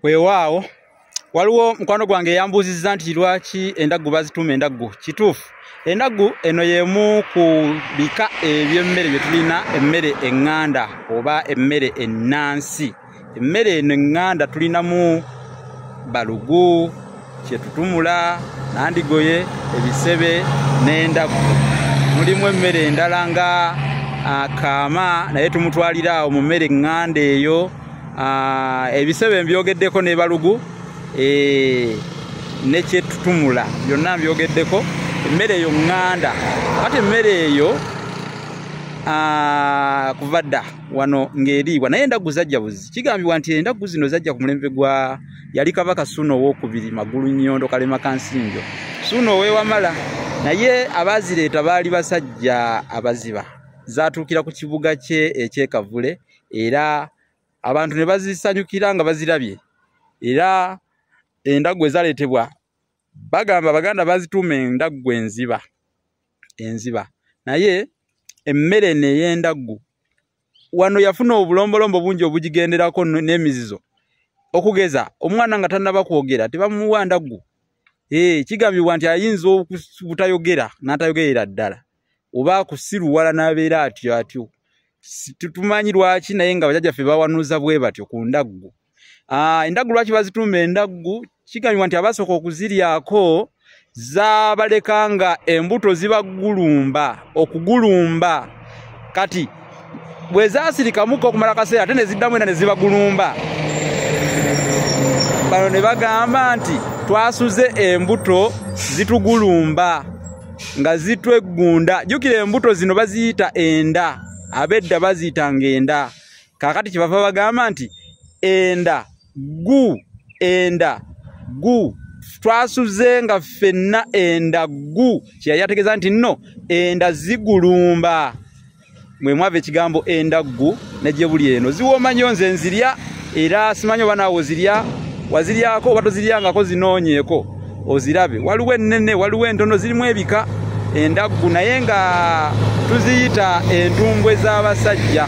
weewaawo waliwo mukwano gwange eyambuuzizza nti lwaki endaggu bazituuma endaggu kituufu endaggu eno y'emu ku bika eby'emmere bye tulina emmere eŋŋanda oba emmere ennansi emmere eno eŋŋanda tulinamu balugu kyetutumula nandigoye ebisebe n'endagu mulimu emmere endala nga akaama naye tumutwalira awo mu mmere ŋŋanda eyo ebisebe mbyogeddeko ne balugu e, ne kyetutumula byonna mbyogeddeko emmere eyo ŋŋanda kati emmere eyo Ah, kuva dda wano ng'eriibwa naye endaggu zajja buzi kigambibwa nti endaggu zino zajja ku mulembe gwa yali kabaka suuna owokubiri magulu nyondo kalema kansinjo suuna owewamala naye abaazireeta baali basajja abaziba zaatuukira ku kibuga kye ekyekavule era abantu ne bazisanyukira nga bazirabye era endaggu ezaleetebwa bagamba baganda bazituuma endaggu enziba enziba naye emmere eno ey'endaggu wano yafuna obulombolombo bungi obugigenderako n'emizizo okugeza omwana nga tannaba kwogera tebamuwa ndaggu ee eh, kigambibwa nti ayinza obutayogera n'atayogerera ddala oba akusiruwala n'abeera atyo atyo tumanyi lwaki naye nga bajajaffe bawanuuza bwe batyo ku ndaggu Ah, endaggu lwaki bazitumba endaggu kigambibwa nti abasooka okuziryako zabaleka nga embuto zibagulumba okugulumba kati bwe zasirikamuka okumala kaseera ate neziddamu era nezibagulumba bano ne bagamba nti twasuze embuto zitugulumba nga zitweggunda jjukira embuto zino baziyita enda abedda baziyitanga enda kakati kyebava bagamba nti enda gu enda gu twasuze nga ffenna enda gu kyeyali ategeeza nti nno enda zigulumba mwe mwava ekigambo enda gu negye buli eno ziwooma nyo nze nzirya era simanyi oba naawe ozirya waziryako oba toziryangako zinoonyeeko ozirabe waliwo ennene waliwo entono zirimu ebika endaggu naye nga tuziyita entumbwe z'abasajja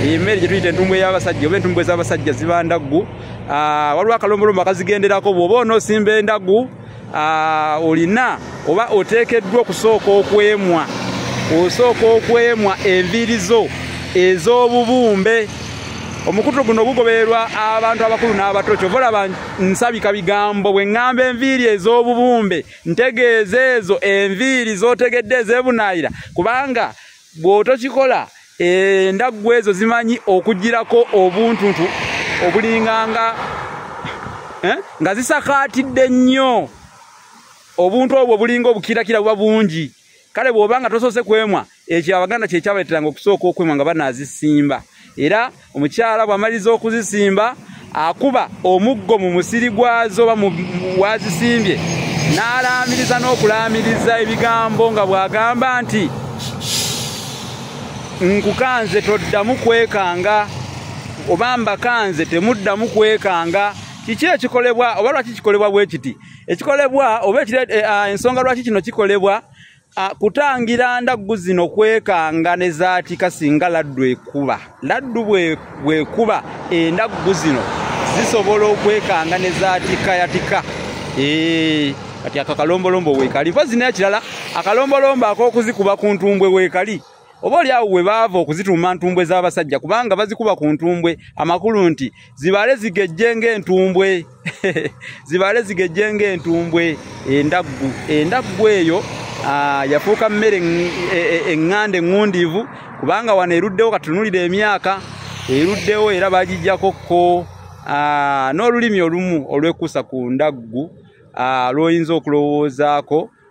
emmere gye tuyita entumbwe y'abasajja oba entumbwe z'abasajja ziba ndaggu ah, waliwo akalombolombo akazigenderako bw'oba onoosimba endaggu ah, olina oba oteekeddwa okusooka okwemwa osooka okwemwa enviiri zo ez'obubumbe omukutu guno gugobererwa abantu abakulu n'abato kyovola nsabika bigambo bwe ŋŋamba enviiri ez'obubumbe ntegeeza ezo enviiri z'otegedde ezeebunaayira kubanga bw'otokikola endaggu ezo zimanyi okugirako obuntuntu obulinganga eh, nga zisakaatidde nnyo obuntu obwo bulinga obukirakira buba bungi kale bwoba nga tosoose kwemwa ekyo abaganda kyekyabaleteranga okusooka okwemwa nga banazisimba era omukyala bwamaliza okuzisimba akuba omuggo mu musiri gwazo oba wazisimbye n'alaamiriza n'okulaamiriza ebigambo nga bw'agamba nti nkukanze toddamu kwekanga oba mbakanze temuddamu kwekanga kiki ekikolebwa oba lwaki kikolebwa bwe kiti ekikolebwa oba eh, ah, ensonga lwaki kino kikolebwa ah, kutangira ndaggu zino kwekanga ne zaatika singa laddu ekuba laddu bwekuba endaggu zino zisobola okwekanga ne zaatika yatika eh, kati akakalombolombo weekali mpozi naye kirala akalombolombo ak'okuzikuba ku ntumbwe weekali oba oli awo we baava okuzituuma ntumbwe z'abasajja kubanga bazikuba ku ntumbwe amakulu nti zibaale zigejje ng'entumbwe zibaale zigejje ng'entumbwe endaggu endaggu eyo ah, yafuuka mmere eŋŋanda e, e, eŋŋundiivu kubanga wano eruddewo katunulira emyaka eruddewo era bagijjako ko ah, n'olulimi olumu olwekuusa ku ndaggu ah, lw'oyinza okulowoozaako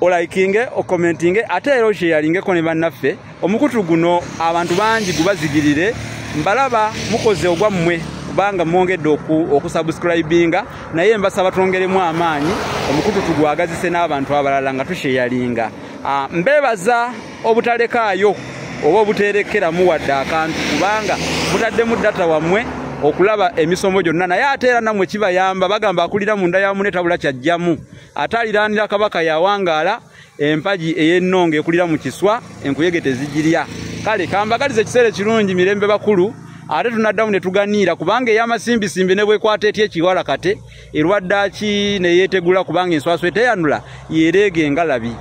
olayikinge okomentinge ate era okyeyalingeko ne bannaffe omukutu guno abantu bangi gubazigirire mbalaba mukoze ogwammwe kubanga mwongedde okusubscribinga naye mbasaba twongeremu amaanyi omukutu tugwagazise n'abantu abalala nga tukyeyalinga ah, mbebaza obutalekaayo oba obuteerekeramu wadde akantu kubanga mutaddemu data wammwe okulaba emisomo gyonna naye ate era namwe kibayamba bagamba akulira munda ya mune tabula kyajjamu ate aliraanira kabaka yawangaala empagi ey'ennonga ekulira mu kiswa enkuyege tezigirya kale kambagaliza ekiseera ekirungi mirembe bakulu ate tunaddamu ne tuganiira kubanga ey'amasimbisimbi ne bwekwata etya ekiwala kate erwaddaaki ne yeetegula kubanga enswaswa eteyanula yeereega engalabi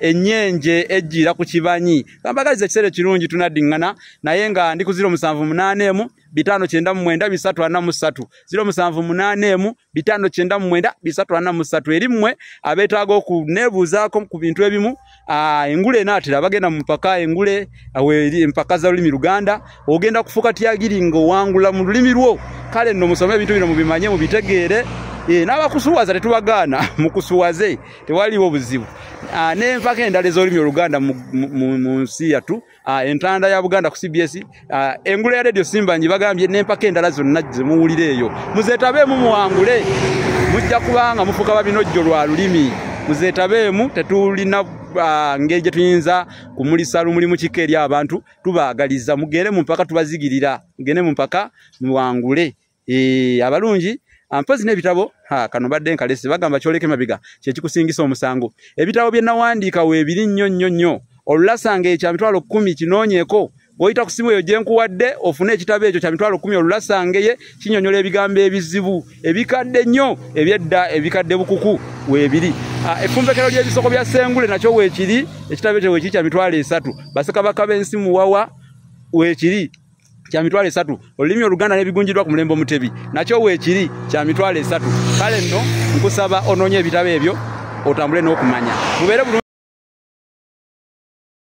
ennyenje ejjiira ku kibanyi kambagaliza ekiseera ekirungi tunaddiŋŋana naye nga ndi ku ziro musanvu munaana emu bitaano kyenda mu mwenda bisatu ana mu ssatu ziro musanvu munaana emu bitaano kyenda mu mwenda bisatu ana mu ssatu eri mmwe abeetaaga okuneebuuzaako ku bintu ebimu engule enaatera bagenda mu mpaka engule empaka za lulimi luganda ogenda kufuuka tyagiri nga owangula mu lulimi lwo kale nno musome ebintu bino mubimanye mubitegeere eh, n'abakusuwaza tetubagaana mukusuwaze tewaliwo buzibu ah, nenfako endala ezolimi oluganda mu nsi yatu ah, entanda ya buganda ku cbs ah, engula ya radio simba nji bagambye nenfako endala zonna zemuwulira eyo muzetabeemu muwangule mujja kubanga mufuka babinojjo lwa lulimi muzetabeemu tetulina ngeri gye tuyinza kumulisa lumuli mu kika eri abantu tubaagaliza mugere mu mpaka tubazigirira mugende mu mpaka muwangule ee abalungi ampozi n'ebitabo ha kano badde nkalesi bagamba kyoleke mabiga kyekikusingisa omusango ebitabo bye nawandiika weebiri nnyo nnyo nnyo olulasanga ekya mitwalo kkumi kinoonyeko bw'oyita ku simu eyo gye nkuwadde ofune ekitabo ekyo kya mitwalo kkumi olulasangeye kinyonyola ebigambo ebizibu ebikadde nnyo ebyedda ebikadde bukuku weebiri ah, effumbekero ly'ebisoko bya sengule nakyo weekiri ekitabo ekyo weekiri kya mitwalo esatu basekabaka b'ensi muwawa weekiri kya mitwalo esatu olulimi oluganda nebigunjidwa ku mulembe omutebi nakyo weekiri kya mitwalo esatu kale nno nkusaba onoonye ebitabo ebyo otambule n'okumanya mubeere